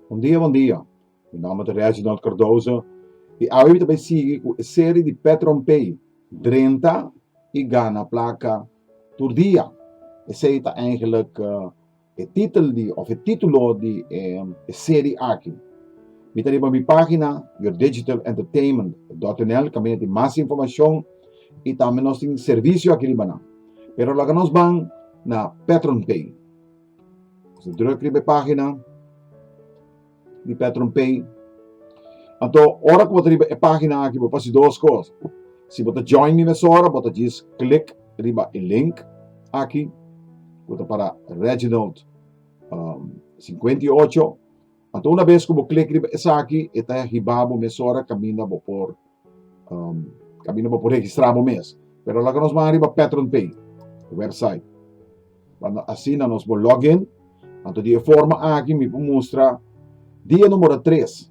Bon dia bon dia, mi nomber ta Reginald Cardoso y awe mi ta bay sigui cu e serie di Pet Rompey drenta y gana placa tur dia. Esey ta eigenlijk E titel di of e titulo di e seri aki. Mi ta riba mi pagina yourdigitalentertainment.nl ka mina tin mas informacion y tambe nos tin servicio aki riba nan. Pero laga nos ban na Patreon page. Nos a druk riba e pagina. di Petron Pay. Anto ora ku bo ta riba e pagina aki bo fasi dos kos. Si bo ta join mi mesora bo ta djis klik riba e link aki ku ta para Reginald um, sinkuenta i ocho. Anto una bes ku bo klik riba esaki e ta hiba bo mesora kaminda bo por Um, kabina bo por registrá bo mes. Pero laga nos ban riba Patron Pay, website. Banda asina nos bo login, anto di e forma aki mi por mustra dia numero 3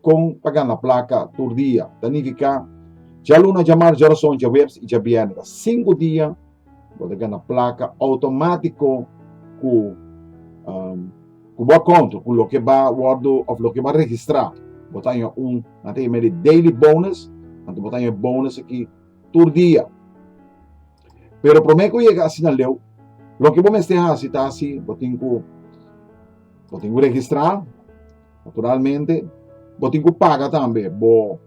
kon pa gana plaka tur dia. Ta nifiká djaluna, djamartj, djarason, djawebs i djabièrnè. Ta sinku dia Bo ta gana plaka outomátiko ku um, ku bo konto, ku loke ba wòrdu of loke ba registrá. Bo ta haña un, nan ta yama di daily bonus, anto bo ta haña bonus aki tur dia. Pero promé ku yega asina leu, loke bo mester hasi ta si bo tin ku bo tin ku registrá, Naturalmente, bo tin ku paga tambe bo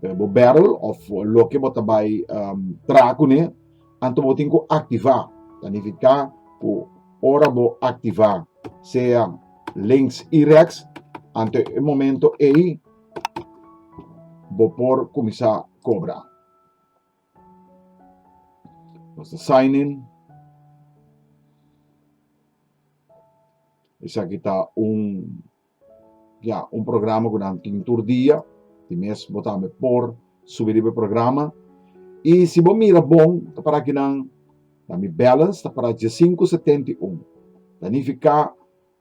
eh, bo barrel of loke bo ta bai um, tra kune, anto bo tin ku aktivá. Ta nifiká ku ora bo aktivá sea links i rex, anto e momento ei bo por kuminsá kobra. Nos ta sign in. Esaki ta un, ya, un programa ku nan tin tur dia, tin mes bo tambe por subi riba e programa. I si bo mira bon, ta para ki nan, na mi balance ta para diesinku setenta i un. Ta nifiká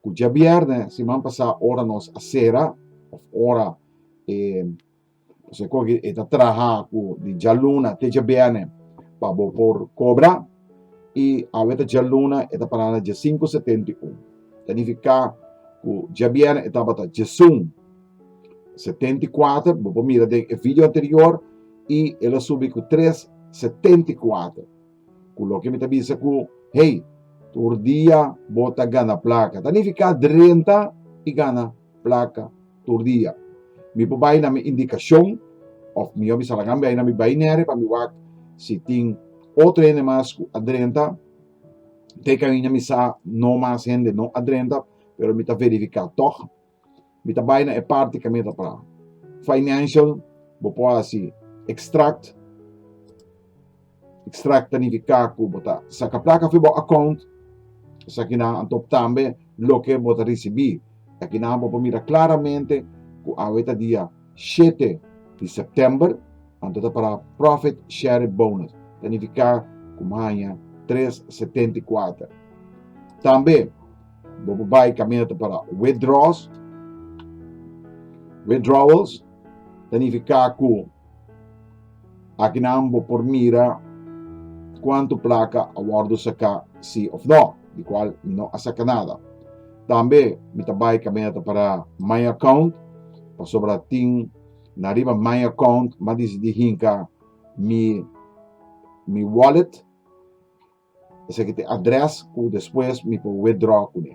ku djabièrnè, siman pasá, ora nos a sera, òf ora e. Esei koki e ta traha ku di djaluna te djabièrnè pa bo por kobra i awe ta djaluna e ta pará na djasinku setenta i un. Ta nifiká ku djabièrnè e tabata djasun setenta i kuater, bo por mira den e video anterior, i el a subi ku tres setenta i kuater. Ku loke mi ta bisa ku, hey, tur dia bo ta gana plaka. Ta nifiká drenta i gana. plaka, tur dia. Mi por bai na mi indikashon òf mi yòbi Salangan bai na mi bai nere pa mi wak si tin otro hende mas ku a drenta. Te kaminda mi sa no mas hende no a drenta, pero mi ta verifiká tòg. Mi ta bai na e parti ku mi ta pra financial, bo por hasi extract. Extract ta nifiká ku bo ta saka plaka fu bo akount. Esakinan a top tambe loke bo ta risibí. Akinan bo por mira klaramente ku awe ta dia shete di sèptèmber, anto ta pará Profit Share Bonus, ta nifiká ku bo haña tres setenta i kuater. Tambe bo por bai kaminda ta pará Withdraws, Withdrawals, ta nifiká ku. Akinan bo por mira cuanto placa a wordo saca si of no, di cual mi no a saca nada. Tambe mi ta bay caminata para my account, pasobra tin na riba my account ma dici di hinca mi mi wallet, esaki ta address cu despues mi por withdraw cune.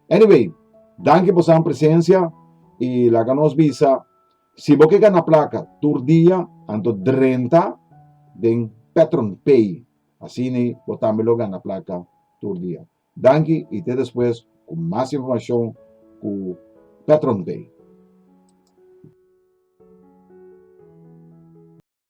Anyway, danki por san presencia y laga nos bisa. Si bo ke gana plaka tur dia, anto drenta den Petron Pay. Asini bo tambe lo gana plaka tur dia. Danki i te despues ku mas informashon ku Petron Pay.